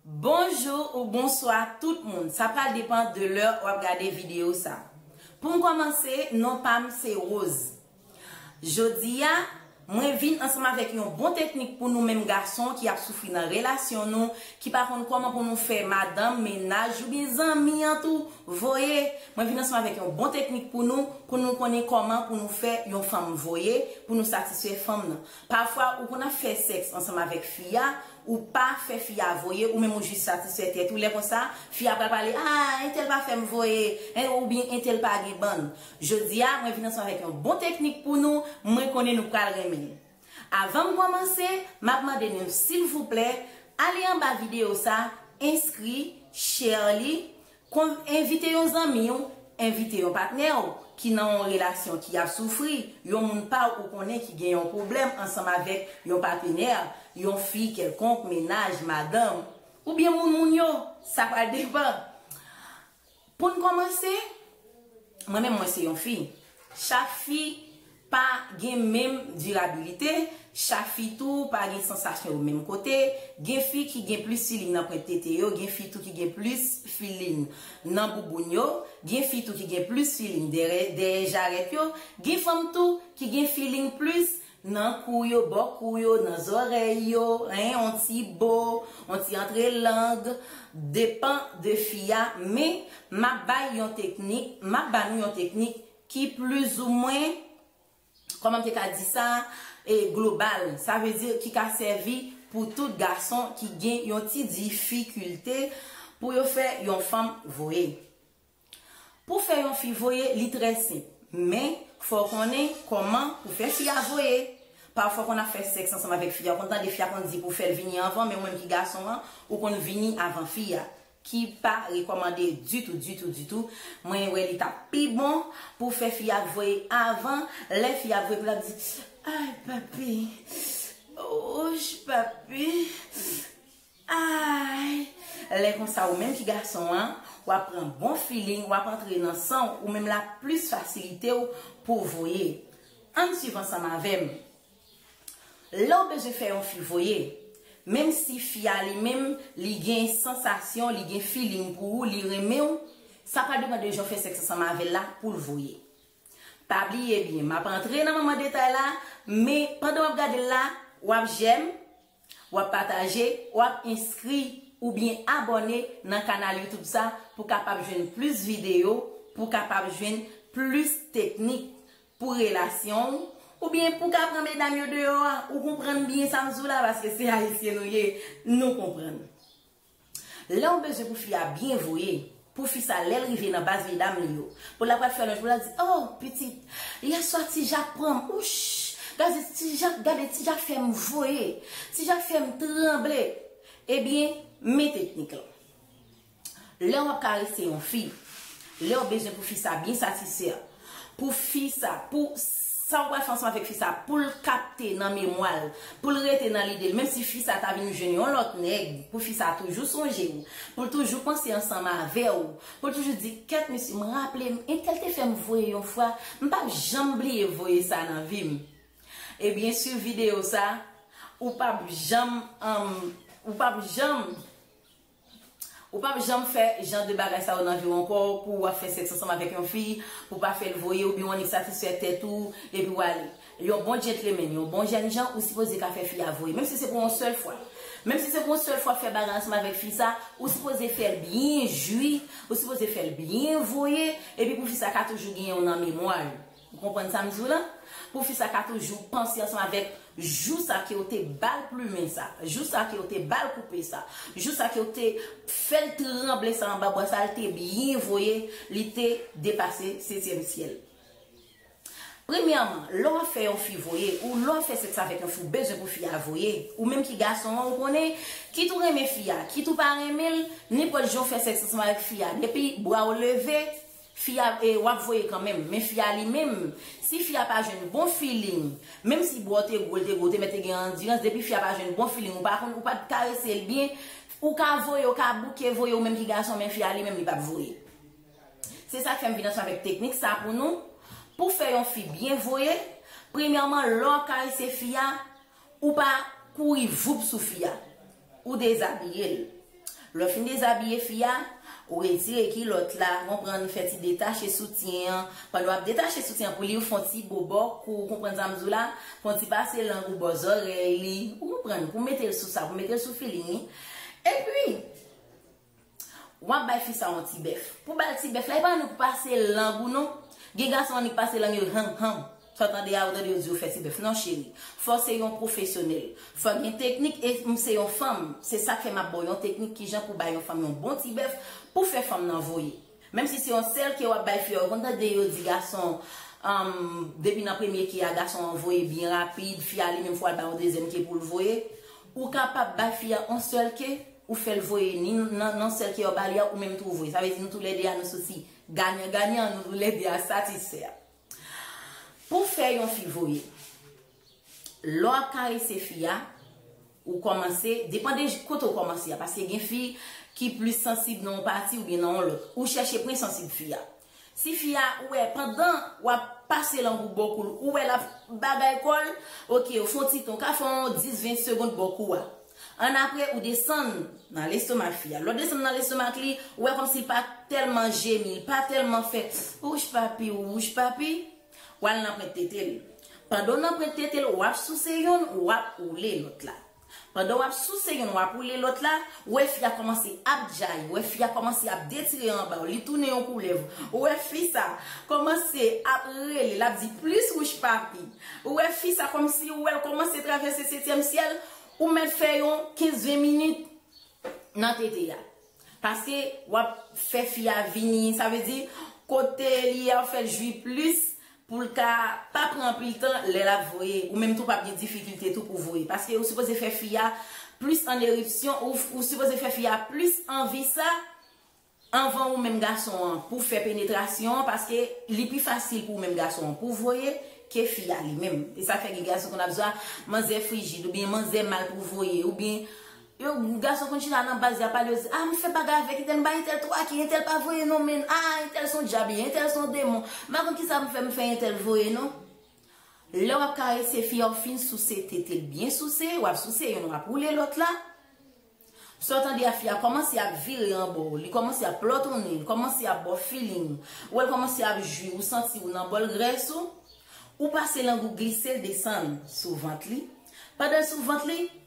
Bonjou ou bonswa tout moun sa pral depan de lè wap gade video sa poum kòmanse non pam se Rose jodia mwen vin ansanm avèk yon bon teknik pou nou menm gason ki ap soufri nan relasyon nou ki pa konn kòman pou nou fè madanm mennaj oubyen zanmi an tou voye mwen vin ansanm avèk yon bon teknik pou nou pou nou konnen kòman pou nou fè yon fanm voye pou nou satisfè fanm nan. Pafwa ou konn ap fè sèks ansanm avèk fi a, ou pa fè fi a voye, ou menm ou jis satisfè tèt ou, lè konsa, fi a pral pale, a, entèl pa fè m voye, en, oubyen entèl pa gen bann. Jodi a, mwen vin ansanm avèk yon bon teknik pou nou, mwen konnen nou pral renmen l. Avan m kòmanse, m ap mande nou, silvouplè, ale anba videyo sa, enskri, share li, Konn envite yon zanmi w, envite yon patnè w ki nan yon relasyon ki ap soufri, yon moun pa w ou konnen ki gen yon pwoblèm ansanm avèk yon patenè, yon fi kèlkonk, mennaj, madanm, oubyen moun moun yo, sa pral depan. Pou n kòmanse, mwen menm mwen se yon fi, chak fi pa gen menm dirabilite, chak fi tou pa gen sansasyon yo menm kote, gen fi ki gen plis filin nan pwent tete yo, gen fi tou ki gen plis filin nan bouboun yo, gen fi tou ki gen plis filin dèyè dèyè jarèt yo, gen fanm tou ki gen filin plis nan kou yo, bò kou yo, nan zòrèy yo, hein, yon ti bo, yon ti antre lang, depan de fi a, men map bay yon teknik, map ba nou yon teknik ki plizoumwen, kòman m te ka di sa, e global, sa vle di ki ka sèvi pou tout gason ki gen yon ti difikilte pou yo fè yon fanm voye. Pou fè yon fi voye, li trè senp, men, fò w konnen kòman pou fè fi a voye. Pafwa kon ap fè sèks ansanm avèk fi a, ou konn tande fi a konn di pou w fè l vini anvan, men ou menm ki gason an, ou konn vini avan fi a. ki pa rekòmande ditou ditou ditou, mwen wè li tap pi bon pou fè fi a t voye avan, lè fi a ap voye pou lap di ayy papi ouch papi ayy lè konsa ou menm ki gason an wap pran bon feeling wap antre nan san ou menm lap plis fasilitew pouw voye ann swiv ansanm avèm. Lèw bezwen fè yon fi voye, menm si fi a li menm li gen sansasyon, li gen feeling pou ou, li renmenw, sa pa depan de jan ou fè sèks ansanm avèl la poul voye. Pa bliye byen, map antre nan manman detay la, men pandan wap gadel la, wap jèm, Wap pataje, wap enskri oubyen abòne nan kanal youtube sa pou kapab jwenn plis video, pou kapab jwenn plis teknik pou relasyon w, oubyen pou ka pran medam yo deyò a, ou konprann byen sa m di w la paske se ayisyen nou ye, nou konprann. Lèw bezwen pou fi a byen voye pou fi sa lèl rive nan baz medam li yo pou la pral fè lòj pou la di oh pitit yèswa ti jak pranm ouch gade ti jak gade ti jak fèm voye ti jak fèm tranble ebyen men teknik lan lèw ap karese yon fi lèw bezwen pou fi sa byen satisfè Pou fi sa, pou sa ou pral fè ansanm avèk fi sa, pou l kapte nan memwa l, pou l rete nan lide l, menm si fi sa ta vin jwenn yon lòt nèg, pou fi sa toujou sonje ou, pou l toujou panse ansanm avè ou, pou l toujou di, kèt mesye, m raple m, entèl te fè m voye yon fwa, m pap janm bliye voye sa nan vi m. Ebyen swiv videyo sa, ou pap janm, ou pap janm. Ou pap janm fè jan de bagay sa yo nan viw ankò pou wap fè sèks ansanm avèk yon fi pou pa fèl voye oubyen ou annik satisfè tèt ou epi wale. Yon bon djentlemen, yon bon jènjan ou sipoze ka fè fi a voye menm si se pou yon sèl fwa. Menm si se pou yon sèl fwa fè bagay ansanm avèk fi sa, ou sipoze fèl byen jwi, ou sipoze fèl byen voye epi pou fi sa ka toujou genyenw nan memwa li. Ou konprann sa m di w la? Pou fi sa ka toujou panse ansanm avèk jou sa ke w te ba l plumen sa, jou sa ke w te ba l koupe sa, jou sa ke w te fè l tranble sa anba bwa sa l te byen voye, li te depase setyèm syèl. Premyèman, lè w ap fè yon fi voye, ou lè w ap fè sèks avèk yon fi, ou bezwen pou fi a voye. Ou menm ki gason an, ou konnen, kit ou renmen fi a, kit ou pa renmen l, nenpòt jan w fè sèks ansanm avèk fi a, depi bra w leve, Fi a e wap voye kanmenm. Men fi a li menm si fi a pa jwenn bon feeling menm si boo te gwo l te gwo te mèt te gen andirans depi fi a pa jwenn bon feeling ou pa konn ou pa t karese l byen ou ka voye ou ka bouke voye ou menm ki gason men fi a li menm li pap voye se sak fè m vin answe avèk teknik sa pou nou pou fè yon fi byen voye premyèman lè w ap karese fi a ou pa kouri voup sou fi a Ou dezabiye l. Lè w fin dezabiye fi a, ou retire kilòt la, ou konprann, fè ti detache soutyen an. Pandan w ap detache soutyen an pou li, ou fè yon ti bobò kou, ou konprann sa m di w la, fè yon ti pase lang ou bò zòrèy li, ou konprann, pou mete l sou sa, pou mete l sou feeling li. Epi. Wap bay fi sa yon ti bèf. Pou bal ti bèf la epa annik ou pase lang ou non gen gason annik pase lang yo hum hum sa tande a ou tande yo di yo fè ti bèf non cheri fò se yon pwofesyonèl fò gen teknik e m se yon fanm se sak fè map baw yon teknik kijan pou bay yon fanm yon bon ti bèf pou fè fanm nan voye Menm si se yon sèl ke wap bay fi a ou konn tande yo di gason an depi nan premye ke a gason an voye byen rapid fi a li menm fwa al bay yon dezyèm ke poul voye ou kapab bay fi a yon sèl ke ou fèl voye ni nan sèl ke wap ba li a ou menm tou ou voye sa vle di nou tou lè 2 a nou soti ganyan ganyan nou tou lè 2 a satisfè pou fè yon fi voye. Lè w ap karese fi a, ou kòmanse, depan de kote ou kòmanse a, paske gen fi ki plis sansib nan yon pati oubyen nan yon lòt, ou chèche pwen sansib fi a. Si fi a, ou wè, pandan w ap pase lang ou bò kou l, ou wè l ap bagay kò l, ok, ou fè yon ti tan, ou ka fè yon 10, 20 segond bò kou a. Annapre, ou desann nan lestomak fi a. Lè w desann nan lestomak li, ou wè kòmsi l pa tèlman jemi, l pa tèlman fè, Wouch papi, wouch papi. Wal nan prent tetel. Pandan w nan prent tetel wap souse youn wap oule lot la. Pandan wap souse youn wap oule lot la, ou wè fi a komanse ap djayi, ou wè fi a komanse ap detire anba w, li tounen yon koulèv, ou wè fi sa komanse ap rele lap di plis wouch papi, ou wè fi sa komsi ou wèl komanse travèse setyèm syèl, ou mèt fè yon 15 20 minit nan tete a. Pase wap fè fi a vini sa vle di kote li ye a ou fèl jwi plis poul ka pa pran anpil tan lè lap voye ou menm tou pap gen difikilte tou pou voye paske ou sipoze fè fi a plis an eripsyon ou sipoze fè fi a plis anvi sa anvan ou menm gason an pou fè penetrasyon an paske li pi fasil pou ou menm gason an pou voye ke fi a li menm e sa fè gen gason konn ap di a manzè frijid oubyen manzè mal pou voye oubyen Yo gason konn chita nan baz ya pale yo di ah m fè bagay avèk entèl m bay entèl twa ki entèl pa voye non menn ah entèl son djab ye entèl son demon m pa konn kisa m fè m fè entèl voye non lè wap karese fi a ou fin souse tete l byen souse wap souse youn wap woule lòt la sa w tande a fi a kòmanse ap vire anba w li kòmanse ap plòtonnen li kòmanse ap ba w filing ou wè l kòmanse ap jwi ou santi ou nan bòl grès ou ou pase lang ou glise l desann sou vant li pandan l sou vant li.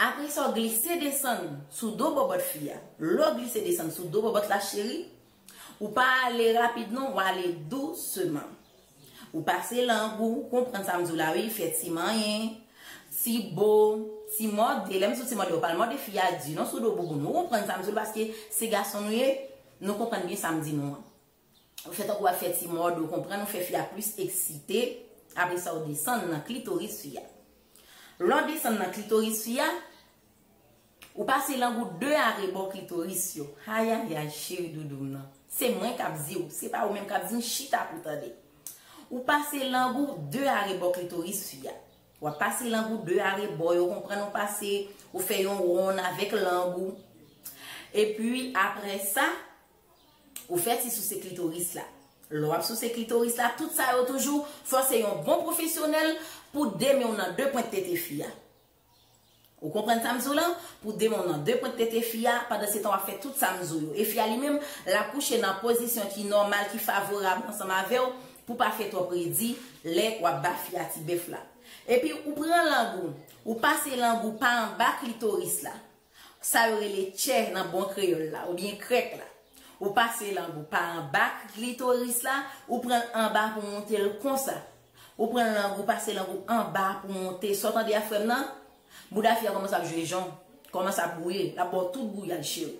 Apresa w glise desann sou do bòbòt fi a. Lè w glise desann sou do bòbòt la cheri, ou pa ale rapid non, ou ale douseman. Ou pase lang ou, ou konprann sa m di w la wi, fè ti manyen, ti bo, ti mòde. Lè m di w ti mòde, ou pa al mòde fi a di non sou do bouboun. Ou konprann sa m di w la paske se gason nou ye, nou konprann byen sa m di nou an. Ou fè tankou wap fè ti mòd ou konprann ou fè fi a plis eksite apre sa ou desann nan klitoris fi a. Lè w desann nan klitoris fi a, ou pase lang ou de arebò klitoris yo. Ayayay cheri doudou m nan. Se mwen kap di ou, se pa ou menm kap di m chita pou tande. Ou pase lang ou de arebò klitoris fi a. Wap pase lang ou de arebò yo konprann ou pase ou fè yon wonn avèk lang ou. Epi apre sa, Ou fè ti souse klitoris la. Lè w ap souse klitoris la, tout sa yo toujou, fò se yon bon pwofesyonèl pou de men w nan de pwent tete fi a. Ou konprann sa m di w lan? Pou de men w nan de pwent tete fi a, pandansetan w ap fè tout sa m di w yo. E fi a li menm, l ap kouche nan pozisyon ki nòmal, ki favorab ansanm avè w, pou pa fè twòp redi, lè w ap ba fi a tibèf la. Epi ou pran lang ou, ou pase lang ou pa anba klitoris la. Sa yo rele tchè nan bon kreyòl la oubyen krèk la. Ou pase langou pa anba klitoris la, ou pran l anba pou monte l konsa. Ou pran langou pase langou anba pou monte. Sa w tande a frè m nan? Bouda fi a kòmanse ap jwe jon, kòmanse ap bouye, l ap ba w tout gouyad cheri.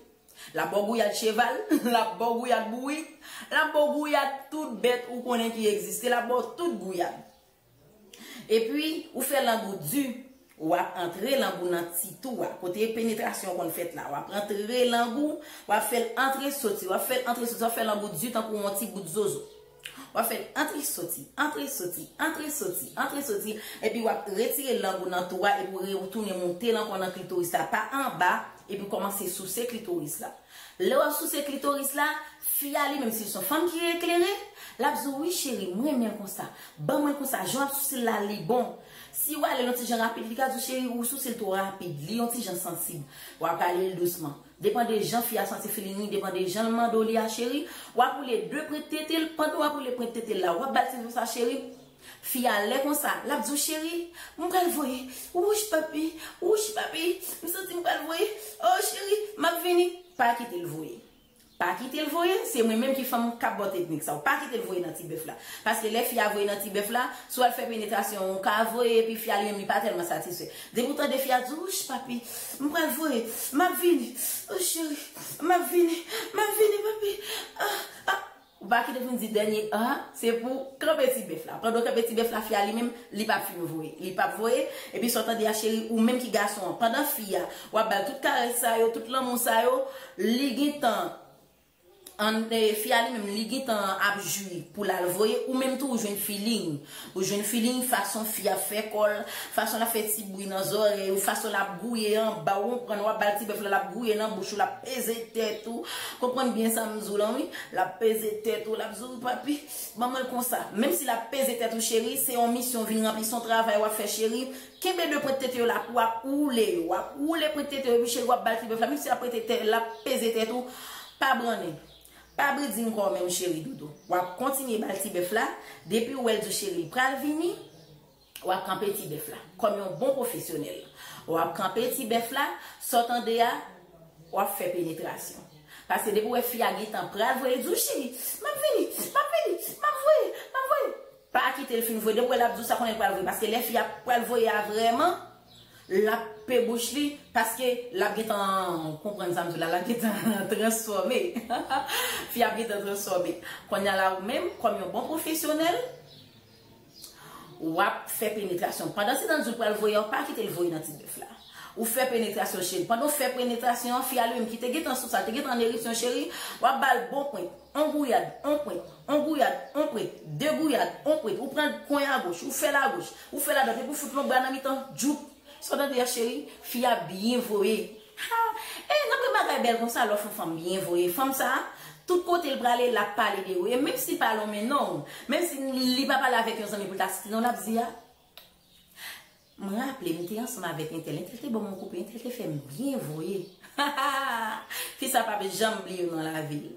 L ap ba w gouyad cheval, l ap ba w gouyad bourik, l ap ba w gouyad tout bèt ou konnen ki egziste, l ap ba w tout gouyad. Epi ou fè lang ou di, wap antre lang ou nan ti tou a, kote penetrasyon konn fèt la, wap antre lang ou, wap fèl antre soti, wap fèl antre soti, wap fè lang ou di tankou yon ti bout zozo. Wap fèl antre soti, antre soti, antre soti, antre soti, epi wap retire lang ou nan tou a epi ou retounen moutel ankò nan klitoris la pa anba epi kòmanse souse klitoris la. Lè wap souse klitoris la. Fi a li menm sil son fanm ki eklere lap di w wi cheri m renmen l konsa ban mwen konsa jan wap souse l la li bon si ou ale yon ti jan rapid li ka di w cheri ou souse l two rapid li yon ti jan sansib wap rale l dousman depan de jan fi a santi feeling li depan de jan l mande w li a cheri wap woule 2 prent tete l pandan wap woule prent tete l la wap bal ti zo sa cheri fi a lè konsa lap di w cheri m pral voye wouch papi wouch papi m santi m pral voye oh cheri map vini pa kite l voye. Pa kitel voye, se mwen menm ki fanm kap baw teknik sa ou pa kitel voye nan ti bèf la. Paske lè fi a voye nan ti bèf la, si wal fè penetrasyon an ou ka voye epi fi a li menm li pa tèlman satisfè. Depi ou tande fi a di wouch papi, m pral voye, map vini, oh cheri, map vini, map vini papi, ah, ah. Ou pa kite poun di dènye a se pou kanpe ti bèf la pandan w kanpe ti bèf la fi a li menm li pap fin voye li pap voye epi sa w tande a cheri ou menm ki gason an pandan fi a wap bal tout karès sa yo tout lanmou sa yo li gintan an fi a li menm li gintan ap jwi pou lal voye ou menm tou ou jwenn feeling Ou jwenn feeling fason fi a fè kò l, fason l ap fè ti bri nan zòrèy ou, fason l ap gouye anba w konprann, w ap ba l ti bèf la l ap gouye nan bouch ou l ap peze tèt ou, konprann byen sa m di w lan wi, l ap peze tèt ou l ap di w papi ban mwen l konsa, menm si l ap peze tèt ou cheri se yon misyon w vin ranpli s on travay w ap fè cheri, kenbe 2 pwent tete yo la pou w ap woule yo, w ap woule pwent tete yo epi cheri w ap ba l ti bèf la menm si l ap peze tèt ou pa brannen. Pa bri dim kòw menm cheri doudou wap kontinye bal ti bèf la depiw wèl di cheri li pral vini wap kanpe ti bèf la kòm yon bon pwofesyonèl wap kanpe ti bèf la sa w tande a wap fè penetrasyon paske depiw wè fi a gentan pral voye li diw cheri map vini map vini map voye map voye pa kitel fin voye depiw wè lap diw sa konnen li pral voye paske lè fi a pral voye a vrèman. Lap pe bouch li paske lap gentan konprann sa m di la lap gentan transfòme fi ap gentan transfòme konnya la ou menm kòm yon bon pwofesyonèl wap fè penetrasyon pandan se nan di w pral voye an pa kite l voye nan ti bèf la ou fè penetrasyon cheri pandan w fè penetrasyon an fi a li menm ki te gentan sou sa l te gentan an ereksyon cheri wap ba l bon pwen On gouyad, on pwent, on gouyad, on pwent, de gouyad, on pwent, ou pran kwen agoch, ou fè l agoch, ou fè l adwat epi w fout lonbra nan mitan, djoup! Sa w tande a cheri? Fi a byen voye. Ha! E, nan pwen bagay bèl konsa lè w fè yon fanm byen voye. Fanm sa a, tout kote l prale, l ap pale de ou. E menm si l pa lonmen non ou, menm si li pa pale avèk yon zanmi pou l ta site non l ap di a, M raple m te ansanm avèk entèl, entèl te ban m yon koupe, entèl te fè m byen voye. Fi sa pap janm bliye non lavi l.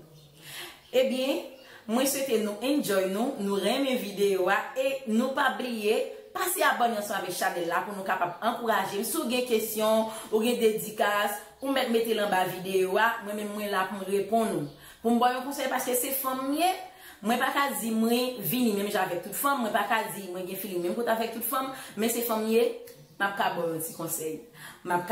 Ebyen, mwen swete nou enjoy nou, nou renmen videyo a e nou pa bliye pase abòne ansanm avèk chanèl la pou nou kapab ankouraje m. Si w gen kesyon, ou gen dedikas, ou mèt mete l anba videyo a, mwen menm mwen la pou m reponn ou. Pou m ba w yon konsèy paske se fanm m ye, mwen pa ka di mwen vini menm jan avèk tout fanm, mwen pa ka di mwen gen feeling menm kote avèk tout fanm, men se fanm m ye, m ap ka ba w yon ti konsèy. M ap ka.